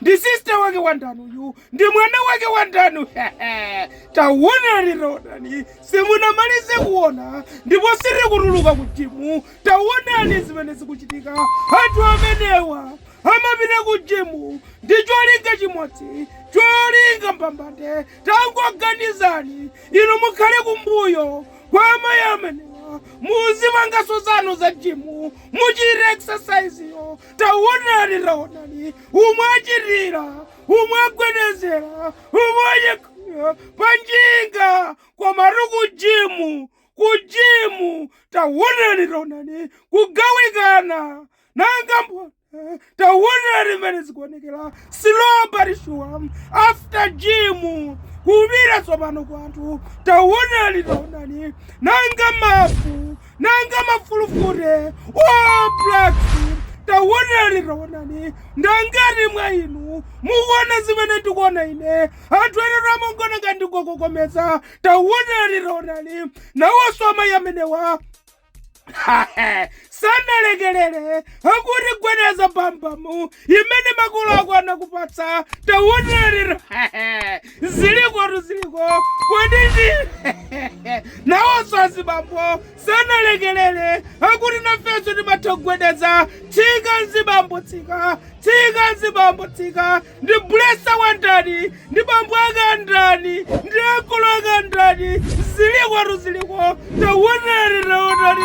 Ndi sister wake wa ndani uyu? Ndi mwana wake wa ndani? Taonani, taonani, simunamalize kuona ndipo sitikutuluka ku jimu. Taonani zimene zikuchitika. Anthu amenewa amapita ku jimu ndi cholinga chimodzi, cholinga mbambande. Tangoganizani inu mukhale kumbuyo kwa amayi amenewa, muzipanganso zanu za jimu, muchite exercise yo taonani taonani umo achitira umo agwedezera umo achekhira panjinga koma ri kujimu kujimu taonani taonani kugawikana nanga mbona taonani mmene zikuonekera silobarishuwa after jimu kubira tsopano kwanthu taonani taonani nanga mafu nanga mafulufute oblacks taonani taonani ndangati mwa inu mukuona zimene ndikuona ine anthu ena amangoona ngati ndikukokomeza taonani taonani nawonso amayi amenewa sanalekelele akuti gwedeza bambamu imene makolo ako anakupatsa taonani zilikotu ziliko kodi ndi nawonso azibambo sanalekelere akuti nafenso timatha kugwedeza tsika nzibambo tsika tsika nzibambo tsika ndi bulesa wa ndani ndi bambo ake a ndani ndi akulu ake a ndani zilikotu ziliko taonani taonani